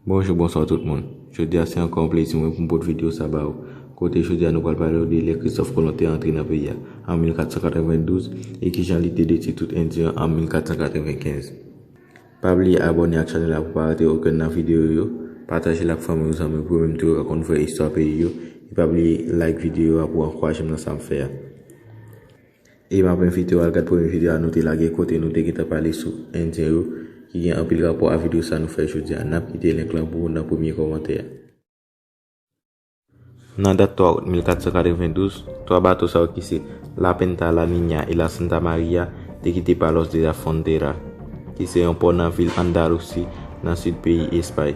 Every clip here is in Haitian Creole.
Bonjou bonswa tout moun Jodi a se ankò yon plezi mwen pou m pot videyo sa ba ou Kote jodi a nou pral pale ou de lè Kristòf Kolon te antre nan peyi a an 1492 e kijan li te detwi tout endyen an 1495 Pa bliye abòne ak chanèl la pou pa rate okenn nan videyo yo Pataje l ak fanmi ou zanmi ou pou yo menm tou yo ka konn vrè istwa peyi yo E pa bliye like videyo a pou ankouraje m nan sa m fè a. E map envitew al gad premye video a nou te lage kote nou te gentan pale sou endyen yo ki gen anpil rapò a video sa nou fè jodi a nap kite link lan pou ou nan premye kòmantè a. Nan dat 3 out 1492, 3 bato sa yo ki se La Pinta, La Niña e La Santa Maria te kite Palos de la Frontera ki se yon pò nan vil Andalusi nan sid peyi Espay.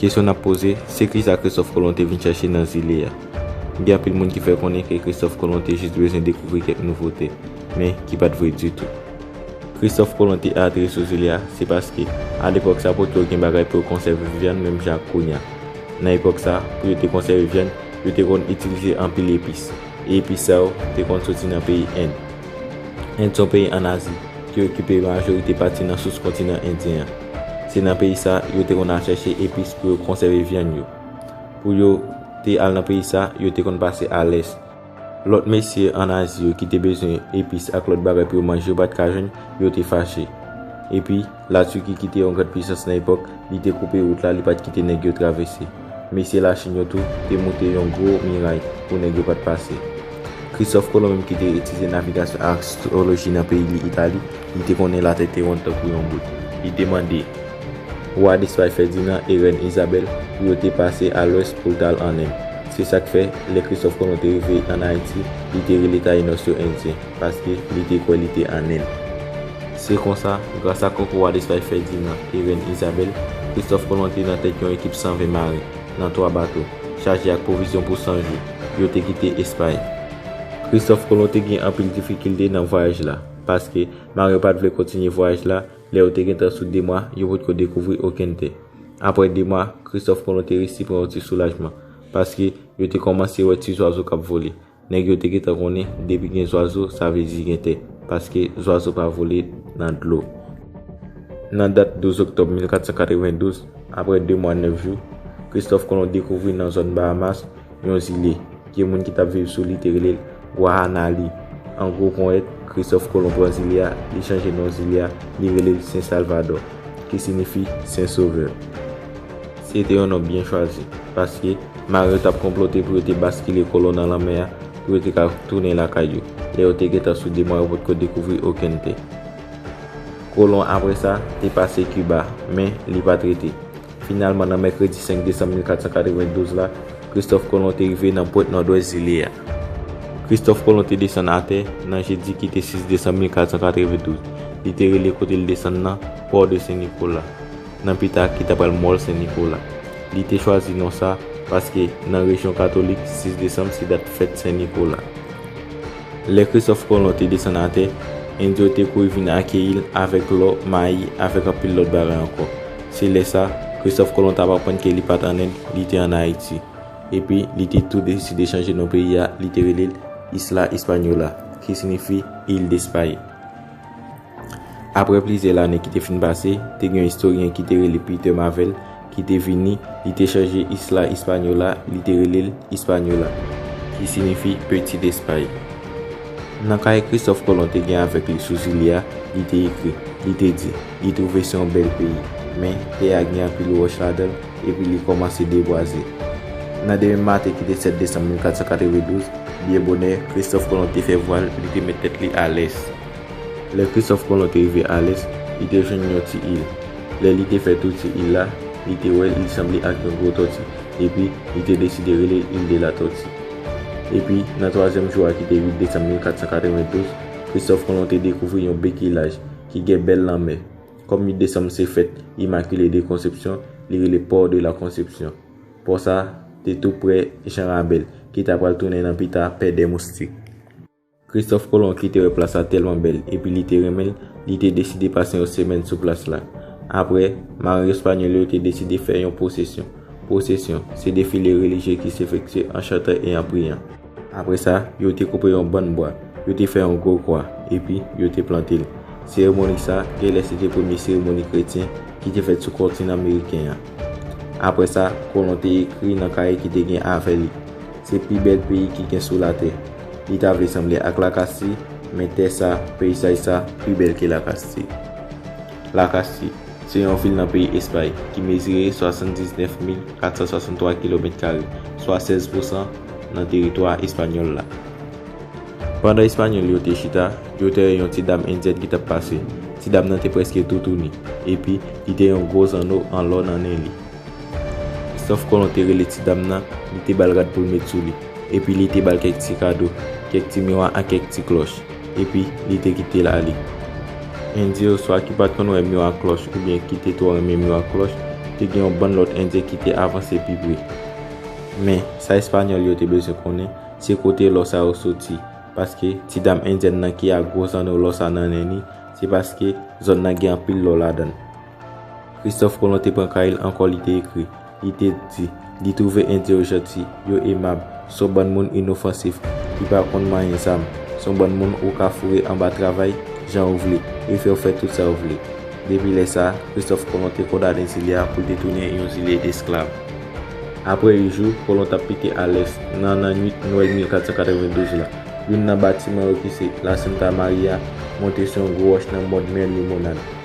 Kesyon n ap poze, se ki sa Kristòf Kolon te vin chèche nan zile a? Gen anpil moun ki fè konnen ke Kristòf Kolon te jis bezwen dekouvri kèk nouvote, men ki pa t vre ditou. Kristòf Kolon te aateri sou zile a, se paske, a lepòk sa, pot yo gen bagay pou yo konsève vyann menm jan ak kounya. Nan epòk sa, pou yo te konsève vyann, yo te konn itilize anpil epis, e epis sa yo te konn soti nan peyi End. End se yon peyi ann Azi, ki okipe majorite pati nan sous kontinan Endyen an. Se nan peyi sa yo te konn al chèche epis pou yo konsève vyann yo. Pou yo te al nan peyi sa, yo te konn pase alès. Lòt mesye ann Azi yo ki te bezwen epis ak lòt bagay pou yo manje yo pa t ka jwenn, yo te fache. Epi, Latiki ki te yon gran pisans nan epòk, li te koupe wout la, li pa t kite nèg yo travèse. Mesye Lachin yo tou te moute yon gwo miray pou nèg yo pa t pase. Kristòf Kolon menm ki te etidye navigasyon ak astroloji nan peyi li Itali, li te konnen latè te wonn tankou yon boul. Li te mande Wa Lespay Fèdinan e Rèn Izabèl pou yo te pase a lwès pou l t al an End. Se sa k fè, lè Kristòf Kolon te rive an Ayiti, li te rele Tayinòs yo Endyen. paske li te kwè li te an End. Se konsa, gras a Kòk Wa Despay Fèdinan e Rèn Izabèl, Kristòf Kolon te nan tèt yon ekip 120 maren, nan 3 bato, chaje ak pwovizyon pou 100 jou, yo te kite Espay. Kristòf Kolon te gen anpil difikilte nan vwayaj la, paske maren yo pa t vle kontinye vwayaj la, lè yo te gentan sou 2 mwa, yo potko dekouvri okenn tè. Apre 2 mwa, Kristòf Kolon te resi pran yon ti soulajman, paske yo te kòmanse wè ti zwazo k ap vole. Nèg yo te gentan konnen depi gen zwazo sa vle di gen tè, paske zwazo pa vole nan dlo. Nan dat 12 oktòb 1492, apre de mwa nèf jou, Kristòf Kolon dekouvri nan zòn Bahamas yon zile, ke moun ki t ap viv sou li te rele l Wahanali. An gwo ponyèt, Kristòf Kolon pran zile a, li chanje non zile a, li rele l Sen Salvadò, ki sinifi Sen Sovè. Se te yon non byen chwazi, paske mare yo t ap konplote pou yo te baskile kolon nan lanmè a pou yo te ka tounen lakay yo, lè yo te gentan sou de mwa yo potko dekouvri okenn tè. Kolon apre sa, te pase Kiba, men, li pa t rete. Finalman, nan mèkredi 5 desanm 1492 la, Kristòf Kolon te rive nan pwent nòdwès zile a. Kristòf Kolon te desann atè, nan jedi ki te 6 desanm 1492. Li te rele kote li desann nan, Port de Saint Nicolas. nan pita ki ta pral Mòl Sen Nikola. Li te chwazi non sa paske nan rejyon katolik 6 desanm se dat fèt Sen Nikola. Lè Kristòf Kolon te desann atè, End yo te kouri vin akeyi l avèk lò, mayi avèk anpil lòt bagay ankò. Se lè sa, Kristòf Kolon t ap aprann ke li pa t ann End, li te ann Ayiti. Epi, li te tou deside chanje non peyi a, li te rele l Isla Hispaniola, ki sinifi Il Despaye. Apre plizyè lane ki te fin pase, te gen yon istoryen ki te rele Peter Mavel ki te vini, li te chanje Isla Hispaniola, li te rele l Ispanyola, ki sinifi Peti Lespay. Nan kay Kristòf Kolon te gen avèk li sou zile a, li te ekri, li te di, li twouve se yon bèl peyi, men, tè a gen anpil wòch ladan l, epi li kòmanse debwaze. Nan demen maten ki te 7 desanm 1492, byen bonè, Kristòf Kolon te fè vwa l, li te met tèt li a lès. Lè Kristòf Kolon te rive Alès, li te jwenn yon ti il. Lè li te fè tou ti il la, li te wè li sanble ak yon gwo tòti, epi li te deside rele l Île de la Tortue. Epi, nan twazyèm jou a ki te 8 desanm 1492, Kristòf Kolon te dekouvri yon bèk ilaj ki gen bèl lanmè. Kòm 8 desanm se fèt Immaculée de Conception, li rele Port de la Conception. Pò sa a te tou prè Jean Rabel, ki ta pral tounen nan pita Pè dè Moustik. Kristòf Kolon ki te wè plas la tèlman bèl epi li te renmen l, li te deside pase yon semèn sou plas la. Apre, marin espanyòl yo te deside fè yon pwosesyon. Pwosesyon, se defile relijye ki sefektye an chantan e an priyan. Apre sa, yo te koupe yon bann bwa, yo te fè yon gwo kwa, epi, yo te plante l. Seremoni sa a genlè se te premye seremoni kretyen ki te fèt sou kontinan meriken an. Apre sa, Kolon te ekri nan kaye ki te gen avè li, Se pi bèl peyi ki gen sou latè. Li ta vle sanble ak Lakasi, men tè sa, peyisaj sa, pi bèl ke Lakasi. Lakasi, se yon vil nan peyi Espay, ki mezire 79,463 kilomèt kare, swa 16 pousan nan teritwa espanyòl la. Pandan Espanyòl yo te chita, yo te wè yon ti dam endyèn ki t ap pase. Ti dam nan te prèske toutouni, epi, li te yon gwo zanno an lò nan nen li. Kristòf Kolon te rele ti dam nan, li te ba l rad pou l met sou li, epi li te ba l kèk ti kado, kèk ti miwa ak kèk ti klòch, epi li te kite l ale. Endyen oswa ki pa t konn wè miwa ak klòch oubyen ki te twò renmen miwa ak klòch, te gen yon bann lòt Endyen ki te avanse pi pre. Men, sa Espanyòl yo te bezwen konnen, se kote lò sa yo soti, paske ti dam Endyèn nan ki ak gwo zanno lò sa nan nen li, se paske zòn nan gen anpil lò ladan l. Kristòf Kolon te pran kay l ankò li te ekri. Li te di, li twouve Endyen yo janti, yo emab, s on bann moun inofansif, ki pa konn manyen zam, s on bann moun ou ka foure anba travay jan ou vle, e fè yo fè tout sa yo vle. Depi lè sa a, Kristòf Kolon te kondane zile a pou l te tounen yon zile desklav. Apre yon jou, Kolon t ap pike a lès, nan nannuit Nwèl 1492 la, youn nan batiman yo ki se La Santa Maria monte sou yon gwo wòch nan mòn mè Limonad.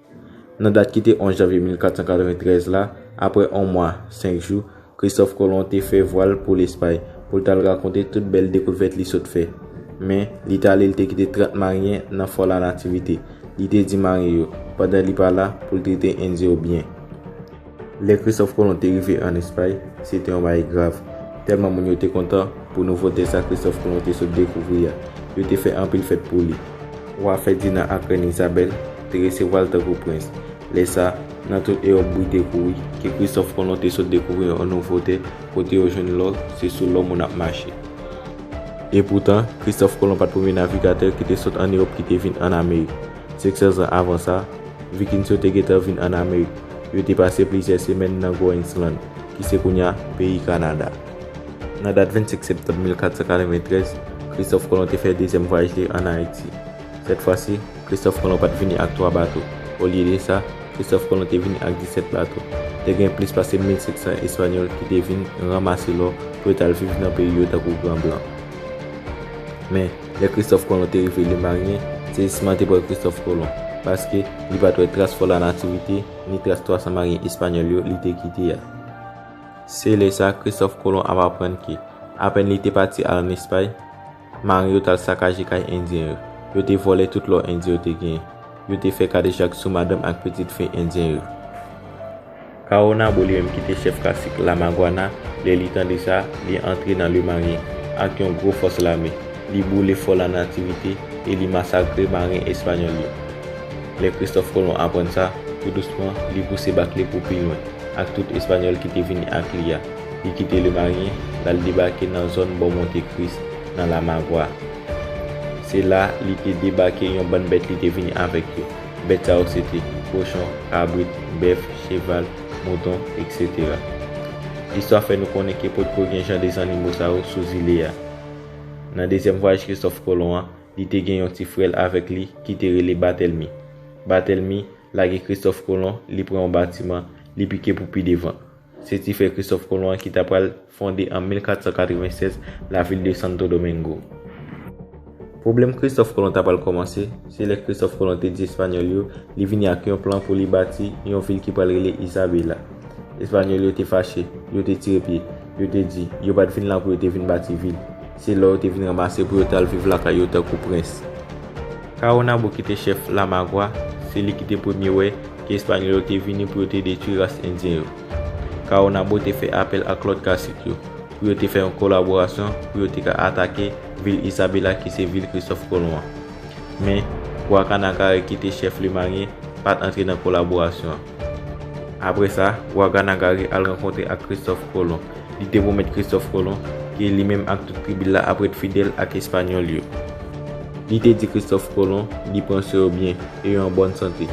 Nan dat ki te 11 janvye 1493 la, apre on mwa, senk jou, Kristòf Kolon te fè vwa l pou Lespay, pou l t al rakonte tout bèl dekouvèt li sot fè. Men, li t ale l te kite trant maryen nan Fò Lanativite. Li te di maryen yo, pandan li pa la, pou l trete Endyen yo byen. Lè Christophe Colomb te rive ann Espay, se te yon bagay grav. Tèlman moun yo te kontan pou nouvo tè sa Christophe Colomb te sot dekouvri a, yo te fè anpil fèt pou li. Wa Fèdinan ak Rèn Izabèl te resevwa l tankou prens. Lè sa, nan tout Ewòp bri te kouri ke Christophe Colomb te sot dekouvri yon nouvo tè kote yo jwenn lò, se sou lò moun ap mache. Epoutan, Christophe Colomb pa t premye navigatè ki te sot ann Ewòp ki te vin ann Amerik. Se sèl zan avan sa, Vikings yo te gentan vin an Amerik. Yo te pase plizyè semèn nan Groensland, ki se kounye a peyi Kanada. Nan dat 25 septanm 1493, Kristòf Kolon te fè dezyèm vwayaj li an Ayiti. Sèt fwa si, Kristòf Kolon pa t vini ak twa bato. Olye de sa, Kristòf Kolon te vini ak disèt bato. Te gen plis pase 1500 Espanyòl ki te vin ranmase lò pou yo t al viv nan peyi yo tankou gran blan. Men, Lè Kristòf Kolon te rive Lemaryen, sezisman te pran Kristòf Kolon, paske li pa t wè tras Fò Lanativite, ni tras 300 maryen espanyòl yo li te kite a. Se lè sa Kristòf Kolon ap aprann ke, apèn li te pati al ann Espay, Maryen yo t al sakaje kay Endyen yo, yo te vòlè tout lò Endyen yo te genyen, yo te fè kadejak sou madanm ak pitit fi Endyen yo. Caonabo li menm ki te chèf kasik La Maguana, lè li tande sa, li antre nan Le Marien, ak yon gwo fòs lame. Li boule fò La Nativite e li masakre marin espanyòl yo. Lè Kristòf Kolon aprann sa, tou dousman, li pouse bak li pou pi lwen, ak tout Espanyòl ki te vini ak li a. Li kite Le Marien, l al debake nan zòn bò Monte Kris, nan La Magua. Se la, li te debake yon bann bèt li te vini avèk yo. Bèt sa yo se te, kochon, kabrit, bèf, cheval, mouton, eksetera. Listwa fè nou konnen ke potko gen jan de zannimo sa yo sou zile a. Nan dezyèm vwayaj Kristòf Kolon an, li te gen yon ti frè l avèk li ki te rele Batèlmi. Batèlmi lage Kristòf Kolon, li pran yon batiman, li pike pou pi devan. Se ti frè Kristòf Kolon an ki ta pral fonde an 1496 lavil de Santo Domingo. Pwoblèm Kristòf Kolon ta pral kòmanse, se lè Kristòf Kolon te di Espanyòl yo li vini ak yon plan pou li bati yon vil ki pral rele Isabela. Espanyòl yo te fache, yo te tire pye, yo te di yo pa t vin la pou yo te vin bati vil. Se la yo te vin ranmase pou yo tal viv lakay yo tankou prens. Kawonabo ki te chèf Lamagwa, se li ki te premye wè ke Espanyòl yo te vini pou yo te detwi ras Endyen yo. Kawonabo te fè apèl ak lòt kasik yo pou yo te fè yon kolaborasyon pou yo te ka atake vil Isabela ki se vil Kristòf Kolon an. Men, Gwakanakare ki te chèf Lemaryen pat antre nan kolaborasyon an. Apre sa, wa Ganagari al rankontre ak Kristòf Kolon. Li te pwomèt Kristòf Kolon ke li menm ak tout tribi l la ap ret fidèl ak Espanyòl yo. Li te di Kristòf Kolon li pran swen yo byen e yo an bòn sante.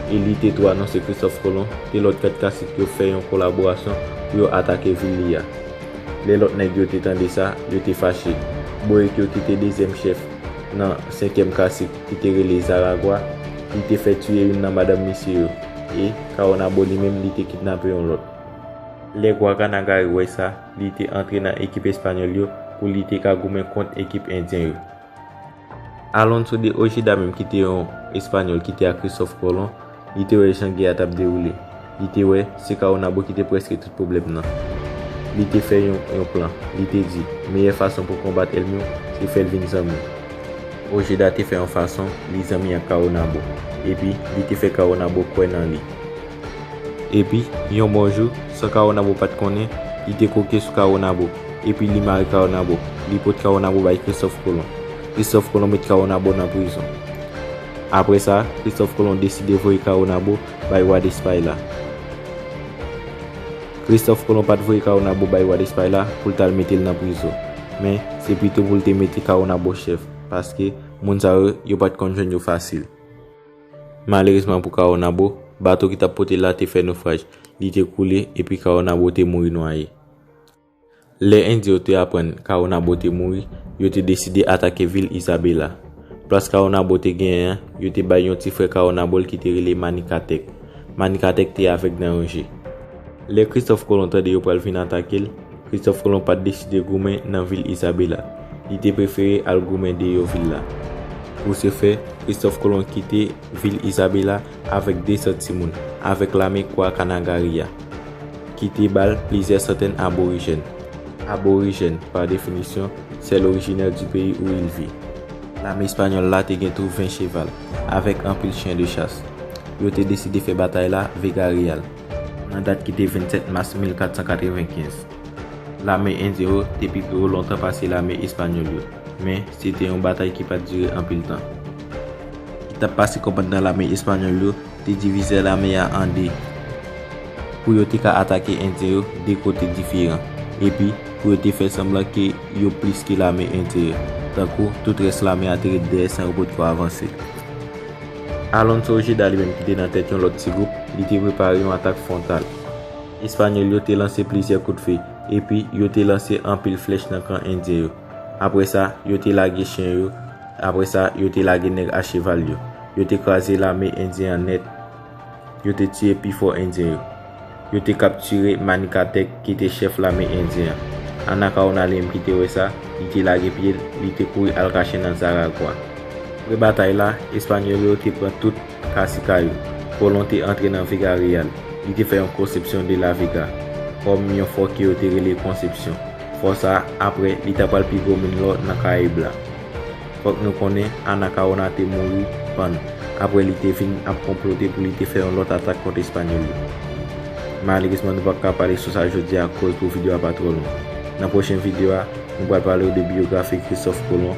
E li te tou anonse Kristòf Kolon ke lòt kat kasik yo fè yon kolaborasyon pou yo atake vil li a. Lè lòt nèg yo te tande sa, yo te fache. Borik yo ki te dezyèm chèf nan senkyèm kasik, ki te rele Zaragwa, li te fè tiye youn nan madanm misye yo, e, Kawonabo li menm li te kidnape yon lòt. Lè Gwaganagari wè sa, li te antre nan ekip Espanyòl yo pou li te ka goumen kont ekip Endyen yo. Alonso de Ojeda menm ki te yon Espanyòl ki te ak Kristòf Kolon, Li te wè jan gè a t ap dewoule. Li te wè, se Kawonabo ki te prèske tout pwoblèm nan. Li te fè yon yon plan. Li te di, meyè fason pou konbat èlmi w, se fè l vin zanmi w. Ojeda te fè yon fason li zanmi ak Kawonabo. Epi, li te fè Kawonabo kwè nan li. Epi, yon bon jou, san Kawonabo pa t konnen, li te kwoke sou Kawonabo. Epi, li mare Kawonabo. Li pot Kawonabo bay Kristòf Kolon. Kristòf Kolon met Kawonabo nan prizon. Apre sa, Kristòf Kolon deside voye Kawonabo bay wa Despay la. Kristòf Kolon pa t voye Kawonabo bay wa Despay la pou l t al mete l nan prizo. Men, se pito pou l te mete Kawonabo chèf, paske, moun sa yo, yo pa t konn jwenn yo fasil. Malerezman pou Kawonabo, bato ki t ap pote l la te fè nofraj, li te koule, epi Kawonabo te mouri nwaye. Lè Endyen yo te aprann Kawonabo te mouri, yo te deside atake vil Isabela. Plas Kawonabo te genyen an, yo te bay yon ti frè Kawonabo l ki te rele Manikatèk. Manikatèk te avèg nan yon je. Lè Kristòf Kolon tande yo pral vin atake l, Kristòf Kolon pa t deside goumen nan vil Isabela. Li te prefere al goumen deyò vil la. Pou se fè, Kristòf Kolon kite vil Isabela avèk 200 timoun, avèk lame Kwa Kanagari a, ki te ba l plizyè santèn aborijèn. Aborijèn, pa definisyon, se l orijinè di peyi ou il vi. Lame espanyòl la te gen tou 20 cheval, avèk anpil chyen de chas. Yo te deside fè batay la Vega Real, nan dat ki te 27 mas 1495. Lame Endyen yo te pi gwo lontan pase lame Espanyòl yo, men se te yon batay ki pa t dire anpil tan. Ki t ap pase kòmandman lame Espanyòl yo te divize lame a an de pou yo te ka atake Endyen yo de kote diferan epi pou yo te fè sanblan ke yo plis ke lame Endyen yo tankou tout rès lame a te ret dèyè san yo potko avanse. Alonso Ojeda li menm ki te nan tèt yon lòt ti gwoup, li te prepare yon atak fwontal. Espanyòl yo te lanse plizyè kout fe, epi yo te lanse anpil flèch nan kan Endyen yo. Apre sa, yo te lage chen yo, apre sa, yo te lage nèg acheval yo. Yo te kraze lame Endyen an nèt. Yo te tiye pifò Endyen yo. Yo te kaptire Manicatek ki te chèf lame Endyen an. Anacaona li menm ki te wè sa, li te lage pye l, li te kouri al kache nan Zaragwa. Apre batay la, Espanyòl yo te pran tout. Casicao, Colón te antre nan Vega Real, li te fè yon konsepsyon de La Vega, kòm yon fò ke yo te rele Konsepsyon. Fò sa a, apre, li ta pral pi gwo min lò nan Karayib la. Fòk nou konnen, Anacaona te mouri, pann, apre li te vin ap konplote pou li te fè yon lòt atak kont Espanyòl yo. Malerezman nou pap ka pale sou sa jodi a koz pou video a pa twò long. Nan pwochen video a, nou pral pale w de biyografi Christophe Colón,